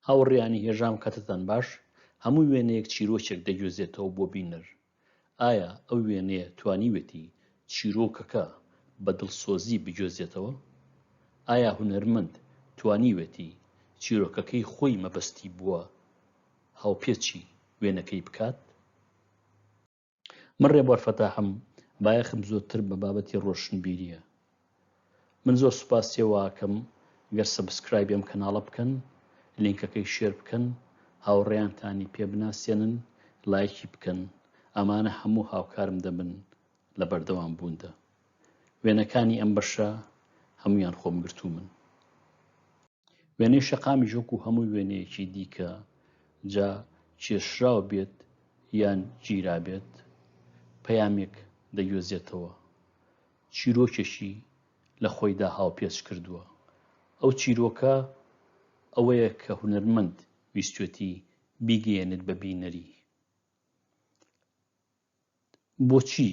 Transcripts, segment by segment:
هاوڕێیانی هێژام کاتتان باش، هەموو وێنەیەک چیرۆکێک دەگوێزێتەوە بۆ بینەر، ئایا ئەو وێنەیە توانیوێتی چیرۆکەکە بە دڵسۆزی بگوێزێتەوە؟ ئایا هونەرمەند توانیوێتی چیرۆکەکەی خۆی مەبەستی بووە هاوپێچی وێنەکەی بکات؟ من ڕێبوار فەتاحم، بایەخم زۆرتر بە بابەتی ڕۆشنبیرییە. من زۆر سوپاسی ئەوەئەکەم گەر سەبسکرایبی ئەم کەناڵە بکەن، لینکەکەی شێر بکەن، هاوڕێیانتانی پێ بناسێنن، لایکی بکەن، ئەمانە هەموو هاوکارم دەبن لە بەردەوام بووندا. وێنەکانی ئەم بەشە هەموویان خۆم گرتوومن. وێنەی شەقامیش وەکو هەموو وێنەیەکی دیکە جا کێشراو بێت یان گیرابێت پەیامێک دەگوێزێتەوە چیرۆکێکی لە خۆیدا هاوپێچ کردووە ئەو چیرۆکە ئەوەیە کە هونەرمەند ویستێتی بیگەیەنێت بە بینەری بۆچی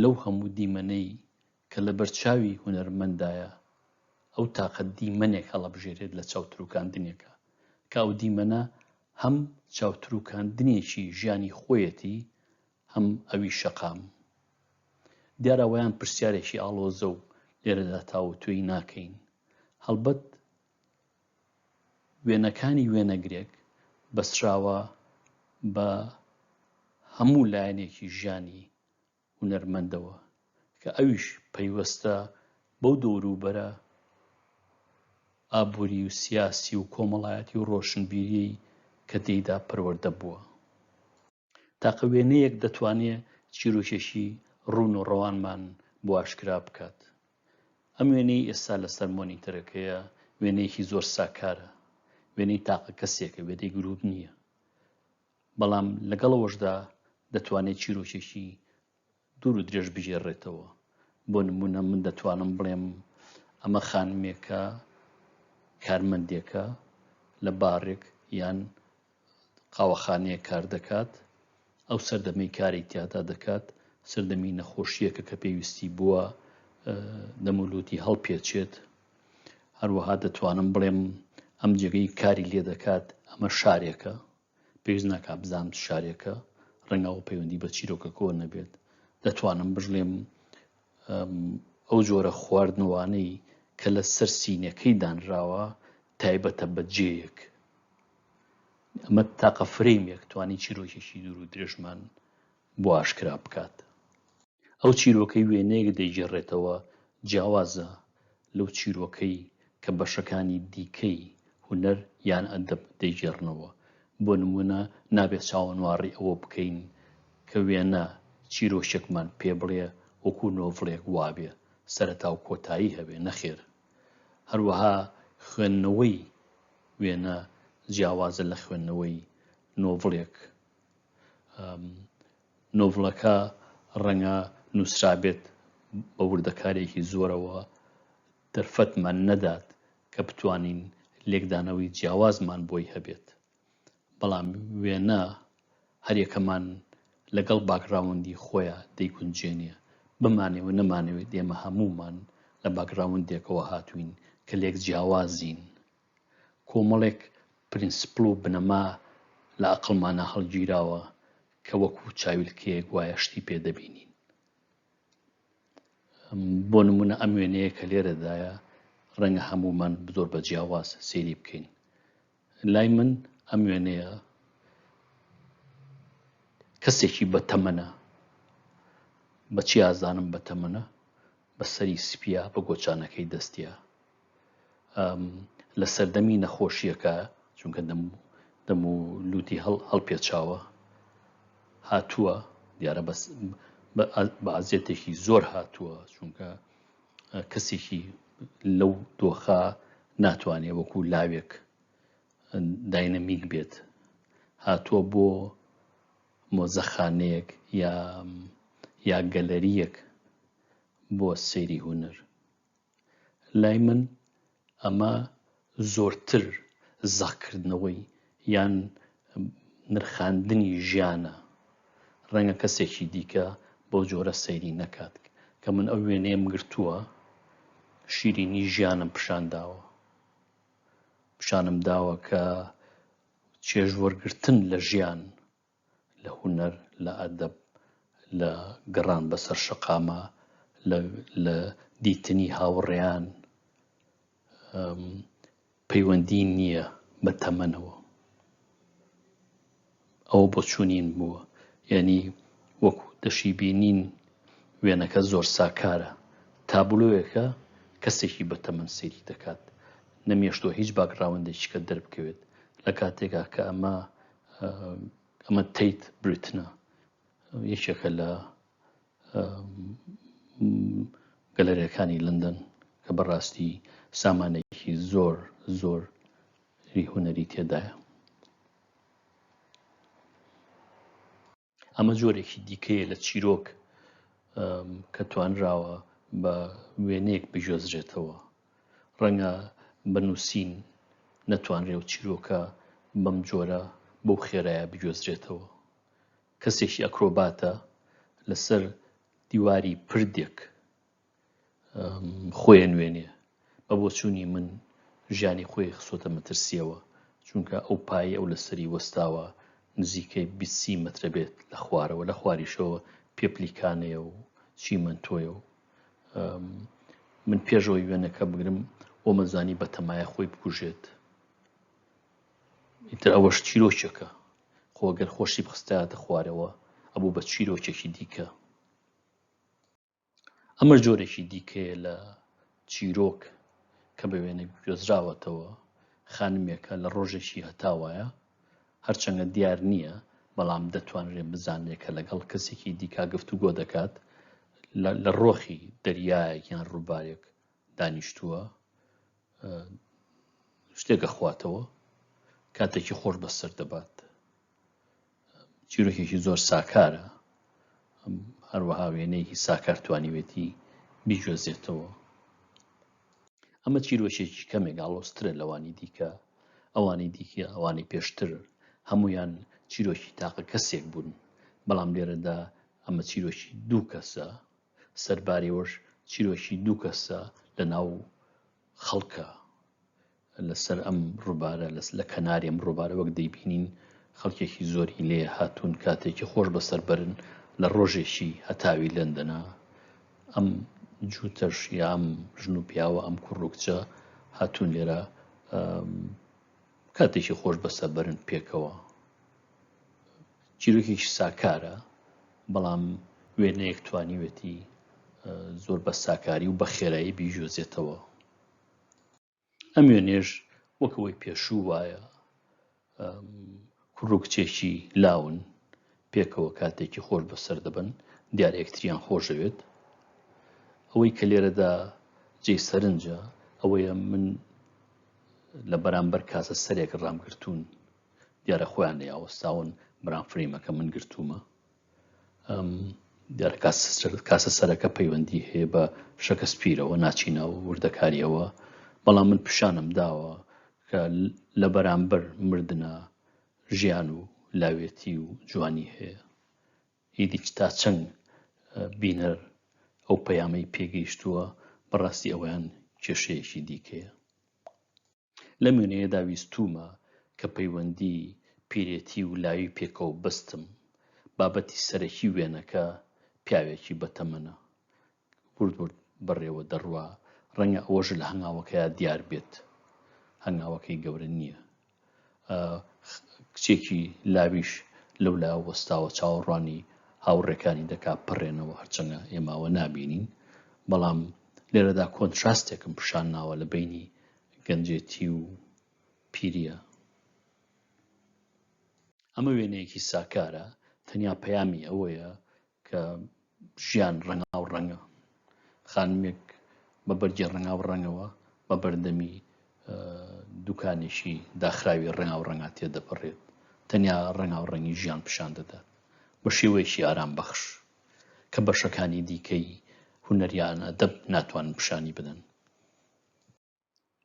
لەو هەموو دیمەنەی کە لە بەرچاوی هونەرمەندایە ئەو تاقە دیمەنێک هەڵەبژێرێت لە چاوتروکاندنێکە کە ئەو دیمەنە هەم چاوتروکاندنێکی ژیانی خۆیەتی هەم ئەوی شەقام دیارە وەیان پرسیارێکی ئاڵۆزە و لێرەدا تاوتوێی ناکەین هەڵبەت وێنەکانی وێنەگرێک بەستراوە بە هەموو لایەنێکی ژیانی هونەرمەندەوە کە ئەویش پەیوەستە بەو دەوروبەرە ئابووری و سیاسی و کۆمەڵایەتی و ڕۆشنبیریەی کە تێیدا پەروەردە بووە. تاقە وێنەیەک دەتوانێت چیرۆکێکی ڕوون و ڕەوانمان بۆ ئاشکرا بکات. ئەم وێنەی ئێستا لەسەر مۆنیتەرەکەیە وێنەیەکی زۆر ساکارە، وێنەی تاقە کەسێکە، وێنەی گرووپ نییە. بەڵام لەگەڵ ئەوەشدا دەتوانێت چیرۆکێکی دوور و درێژ بگێڕێتەوە، بۆ نموونە من دەتوانم بڵێم ئەمە خانمێکە کارمەندێکە لە بارێک یان قاوەخانەیە کار دەکات ئەو سەردەمەی کاری تیادا دەکات سەردەمی نەخۆشیەکە کە پێویستی بووە دەمولوتی هەڵپێچێت هەروەها دەتوانم بڵێم ئەم جێگەی کاری لێ دەکات ئەمە شارێکە پێویست ناکات بزانم چ شارێکە ڕەنگە ئەو پەیوەندی بە چیرۆکە کۆر نەبێت دەتوانم بژڵێم ئەو جۆرە خواردنەوانەی کە لە سەر سینەکەی دانراوە تایبەتە بە جێیەک ئەمە تاقە فرەیمێک توانی چیرۆکێکی دوور و درێژمان بۆ ئاشکرا بکات ئەو چیرۆکەی وێنەیەک دەیگێڕێتەوە جیاوازە لەو چیرۆکەی کە بەشەکانی دیکەی هونەر یان ئەدەب دەیگێڕنەوە، بۆ نموونە نابێت چاوەنواڕی ئەوە بکەین کە وێنە چیرۆکێکمان پێ بڵێ وەکوو نۆڤڵێک وابێ سەرەتا و کۆتایی هەبێ، نەخێر. هەروەها خوێندنەوەی وێنە جیاوازە لە خوێندنەوەی نۆڤڵێک. نۆڤڵەکە ڕەنگە نووسرابێت بە وردەکارییەکی زۆرەوە دەرفەتمان نەدات کە بتوانین لێکدانەوەی جیاوازمان بۆی هەبێت، بەڵام وێنە هەریەکەمان لەگەڵ باکگراوندی خۆیا دەیگونجێنێ، بمانەوێ و نەمانەوێت ئێمە هەموومان لە باکگراوندێکەوە هاتووین کە لێک جیاوازین کۆمەڵێک پرینسپڵ و بنەما لە ئەقڵمانا هەڵگیراوە کە وەکو چاویلکەیەک وایە شتی پێ دەبینین. بۆ نمونە ئەم وێنەیە کە لێرەدایە ڕەنگە هەمومان زۆر بە جیاواز سێری بکەین. لای من ئەم وێنەیە کەسێکی بە تەمەنە بەچی ئازانم بە تەمەنە بە سەری سپیە بە گۆچانەکەی دەستە لە سەردەمی نەخۆشیەکە چونکە دەم دەم و لوتی هەڵ هەڵپێچاوە هاتووە دیارە بەس بەعزیەتێکی زۆر هاتووە چونکە کەسێکی لەو دۆخە ناتوانێ وەکو لاوێک داینەمیک بێت هاتووە بۆ مۆزەخانەیەک یا یا گەلەریەک بۆ سەیری هوەر لای من ئەمە زۆرتر زەق کردنەوەی یان نرخاندنی ژیانە، ڕەنگە کەسێکی دیکە بەو جۆرە سەیری نەکات کە من ئەو وێنەیەم گرتووە شیرینی ژیانم پیشان داوە، پیشانم داوە کە چێژ وەرگرتن لە ژیان، لە هونەر، لە ئەدەب، لە گەڕان بەسەر شەقامە، لە دیتنی هاوڕێیان، پەیوەندی نییە بە تەمەنەوە. ئەوە بۆچوونیم بووە. یانی وەکو دەشیبینین وێنەکە زۆر ساکارە. تابلۆیەکە کەسێکی بە تەمەن سەیری دەکات. نەمێشتووە هیچ باکگراوندێکیکە دەربکەوێت. لە کاتێکا کە ئەمە ئەمە تەیت بریتنە یەکێکە لە گەلەرەکانی لندن کە بەڕاستی سامانێکی زۆر زۆر هونەری تێدایە ئەمە جۆرێکی دیکەیە لە چیرۆک کە توانراوە بە وێنەیەک بگوێزرێتەوە ڕەنگە بە نووسین نەتوانرێ و چیرۆکە بەم جۆرە بەو خێرایە بگوێزرێتەوە کەسێکی ئەکرۆباتە لەسەر دیواری پردێک خۆی نوێنێ بە بۆچوونی من ژیانی خۆی خسۆتە مەترسیەوە چونکە ئەو پایی ئەو لەسەری وەستاوە نزیکەی بیسی مترە بێت لە خوارەوە لە خواریشەوە پێپلیکانەیە و چیمەندۆیە و من پێشەوەی وێنەکە بگرم ئۆمەزانی بەتەمایە خۆی بکوژێت ئیتر ئەوەش چیرۆکێکە خۆگەر خۆشی بخستایەتە خوارەوە ئەبوو بە چیرۆکێکی دیکە ئەمەش جۆرێکی دیکەیە لە چیرۆک کە بە وێنە گوێزراوەتەوە خانمێکە لە ڕۆژێکی هەتاوایە هەرچەندە دیار نییە بەڵام دەتوانرێت بزانێت کە لەگەڵ کەسێکی دیکا گفت و گۆ دەکات لە ڕۆخی دەریایەک یان ڕووبارێک دانیشتووە شتێکە خواتەوە کاتێکی خۆش بەسەر دەبات چیرۆکێکی زۆر ساکارە هەروەها وێنەیەکی ساکار توانیوێتی بیگوێزێتەوە ئەمە چیرۆشێکی کەمێک ئاڵۆسترە لەوانی دیکە ئەوانی دیکە ئەوانی پێشتر هەمویان چیرۆکی تاقە کەسێک بوون بەڵام لێرەدا ئەمە چیرۆکی دوو کەسە سەربارەوەش چیرۆکی دوو کەسە لە ناو خەڵکە لەسەر ئەم ڕوبارە لە کەناری ئەم ڕوبارە وەک دەیبینین خەڵکێکی زۆری لێ هاتوون کاتێکی خۆش بەسەر بەرن لە ڕۆژێکی هەتاوی لەندەنا ئەم جووتەش یا ئەم ژن و پیاوە ئەم کوڕوکچە هاتوون لێرە کاتێکی خۆش بەسە بەرن پێکەوە چیرۆکێکی ساکارە بەڵام وێنەیەک توانیوێتی زۆر بە ساکاری و بە خێرایی بیژۆزێتەوە ئەم وێنەیەش وەک ئەوەی پێشوو وایە کوڕ و کچێکی لاون پێکەوە کاتێکی خۆش بەسەر دەبن دیارە یەکتریان خۆشەوێت ئەوەی کە لێرەدا جێ سەرنجە ئەوەیە من لە بەرامبەر کاسە سەرێک ڕامگرتوون دیارە خۆیان نەیاوەستاون بران فریمەکە من گرتوومە دیارە کاسە سەرەکە پەیوەندی هەیە بە شەکە سپیرەوە ناچینە و وردەکاریەوە بەڵام من پیشانم داوە کە لە بەرامبەر مردە ژیان و لاوێتی و جوانی هەیە ئیدی تا چەند بینەر ئەو پەیامەی پێگەیشتووە بەڕاستی ئەویان کێشەیەکی دیکەیە لەم وێنەیەدا ویستوومە کە پەیوەندی پیرێتی و لاوی پێکەوە بەستم. بابەتی سەرەکی وێنەکە پیاوێکی بەتەمەنە. ورد ورد بەڕێوە دەڕوا، ڕەنگە ئەوەش لە هەنگاوەکەیا دیار بێت. هەنگاوەکەی گەورە نییە. کچێکی لاویش لەو لا وەستاوە چاوەڕوانی هاوڕێکانی دەکا پەڕێنەوە هەرچەنە ئێماوە نابینین بەڵام لێرەدا کۆنتراستێکم پیشان ناوە لە بینی گەنجێتی و پیریە ئەمە وێنەیەکی ساکارە تەنیا پەیامی ئەوەیە کە ژیان ڕەنگا و ڕەنگە خانمێک بە بەرگی ڕەنگا و ڕەنگەوە بە بەردەمی دوکانێکی داخراوی ڕەنگا و ڕەنگا تێ دەپەڕێت تەنیا ڕەنگا و ڕەنگی ژیان پیشان دەدات بە شێوەیەکی ئارام بەخش کە بەشەکانی دیکەی هونەریان ئەدەب ناتوانن پیشانی بدەن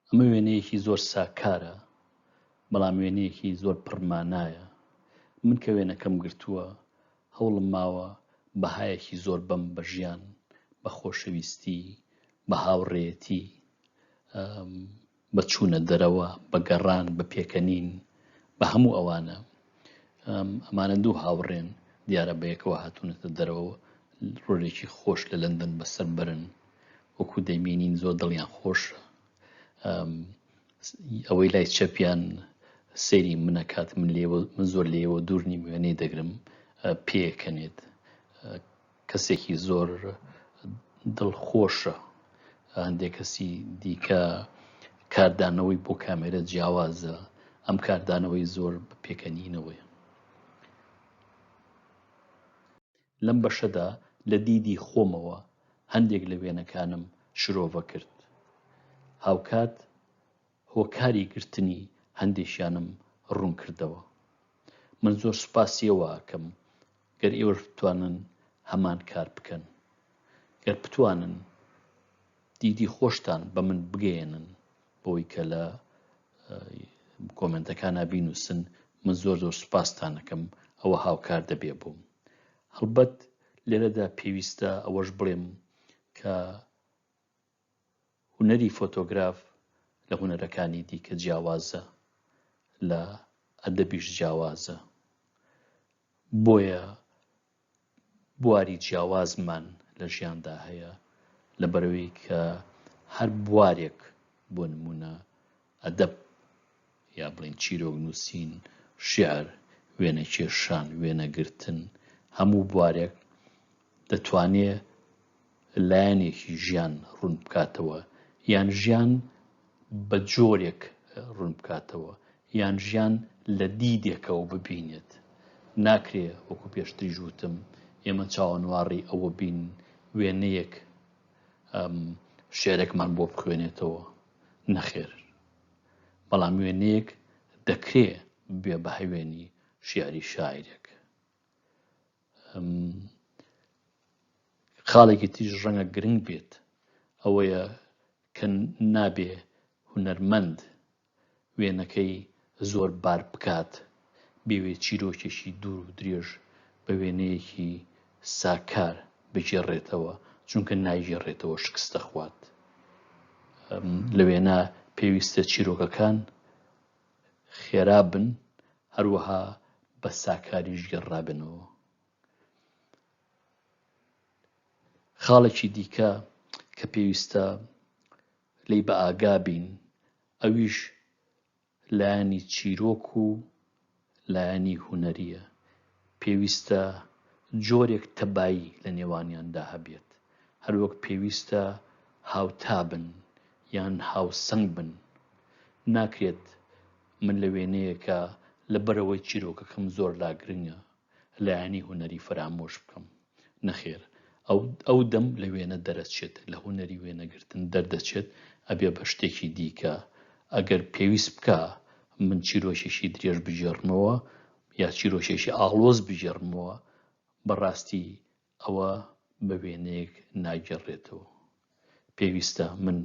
ئەمە وێنەیەکی زۆر ساکارە بەڵام وێنەیەکی زۆر پڕمانایە من کە وێنەکەم گرتووە هەوڵم ماوە بەهایەکی زۆر بەم بە ژیان بە خۆشەویستی بە هاوڕێتی بە چوونە دەرەوە، بە گەڕان، بە پێکەنین، بە هەموو ئەوانە. ئەمانە دوو هاوڕێن، دیارە بەیەکەوە هاتوونەتە دەرەوە و رۆلێکی خۆش لە لەندەن بەسەر بەرن. وەکو دەیبینین زۆر دڵیان خۆشە. ئەوەی لای چەپیان سەیری من ئەکات، من زۆر لێیەوە دوور نیم، وێنەی دەگرم، پێیەکەنێت. کەسێکی زۆر دڵخۆشە هەندێک کەسی دیکە کاردانەوەی بۆ کامێرە جیاوازە ئەم کاردانەوەی زۆر پێکەنینەوەی لەم بەشەدا لە دیدی خۆمەوە هەندێک لە وێنەکانم شرۆڤە کرد هاوکات هۆکاری گرتنی هەندێکیانم ڕوون کردەوە. من زۆر سوپاسی ئێوە ئەکەم گەر ئێوەش بتوانن هەمان کار بکەن. گەر بتوانن دیدی خۆشتان بە من بگەیەنن بۆی کە لە کۆمنتەکانە بینوسن من زۆر زۆر سوپاستانەکەم ئەوە هاوکار دەبێ بووم. هەڵبەت لێرەدا پێویستە ئەوەش بڵێم کە هونەری فۆتۆگراف لە هونەرەکانی دیکە جیاوازە، لە ئەدەبیش جیاوازە. بۆیە بواری جیاوازمان لە ژیاندا هەیە، لەبەرئەوەی کە هەر بوارێک بۆ نموونە ئەدەب، یا بڵێین چیرۆک نووسین، شیعر، وێنە کێشان، وێنە گرتن، هەموو بوارێک دەتوانێ لایەنێکی ژیان ڕوون بکاتەوە، یان ژیان بە جۆرێک ڕوون بکاتەوە، یان ژیان لە دیدێکەوە ببینێت. ناکرێ وەکو پێشتریش وتم ئێمە چاوەنواڕی ئەوە بین وێنەیەک شیعرێکمان بۆ بخوێنێتەوە. نەخێر بەڵام وێنەیەک دەکرێ بێ بە هەوێنی شیعری شاعیرێک خاڵێکی تیژ ڕەنگە گرنگ بێت ئەوەیە کە نابێ هونەرمەند وێنەکەی زۆر بار بکات، بیەوێت چیرۆکێکی دوور و درێژ بە وێنەیەکی ساکار بگێڕێتەوە، چونکە ناگێڕێتەوە شکست دەخوات. لە وێنە پێویستە چیرۆکەکان خێرا بن، هەروەها بە ساکاریش گێڕرابنەوە. خاڵێکی دیکە کە پێویستە لێی بەئاگا بین، ئەویش لایەنی چیرۆک و لایەنی هونەرییە، پێویستە جۆرێک تەبایی لە نێوانیاندا هەبێت، هەروەک پێویستە هاوتا بن یان هاوسەنگ بن، ناکرێت من لە وێنەیەکا لەبەرئەوەی چیرۆکەکەم زۆر لاگرنگە، لایەنی هونەری فەرامۆش بکەم. نەخێر ئەو ئەو دەم لە وێنە دەرەچێت لە هونەری وێنەگرتن دەردەچێت ئەبێ بە شتێکی دیکە ئەگەر پێویست بکا من چیرۆکێکی درێژ بگێڕمەوە یا چیرۆکێکی ئاڵۆز بگێڕمەوە بەڕاستی ئەوە بە وێنەیەک ناگەڕێتەوە پێویستە من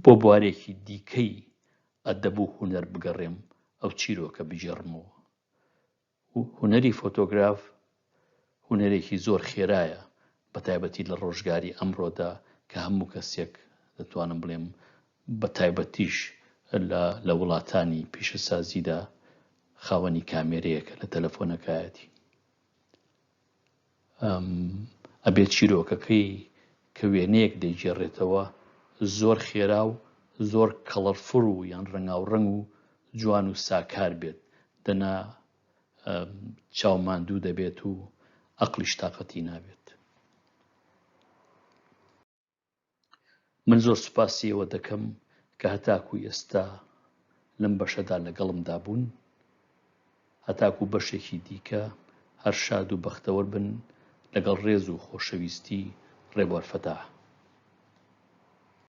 بۆ بوارێکی دیکەی ئەدەبوو هوەر بگەڕێم ئەو چیرۆکە بگێڕمەوە هونەری فۆتۆگراف هونەرێکی زۆر خێرایە بەتایبەتی لە ڕۆژگاری ئەمڕۆدا کە هەموو کەسێک دەتوانم بڵێم بە تایبەتیش لە وڵاتانی پیشەسازیدا خاوەنی کامێرەیەکە لە تەلەفۆنەکایەتی ئەم ئەبێت چیرۆکەکەی کە وێنەیەک دەیگێڕێتەوە زۆر خێرا و زۆر کەڵەرفول و یان ڕەنگاوڕەنگ و جوان و ساکار بێت دەنا چاو ماندوو دەبێت و ئەقڵیش تاقەتی نابێت. من زۆر سوپاسی ئێوە دەکەم کە هەتاکوو ئێستا لەم بەشەدا لەگەڵمدا بوون. هەتاکوو بەشێکی دیکە هەر شاد و بەختەوەر بن لەگەڵ ڕێز و خۆشەویستی ڕێبوار فەتاح.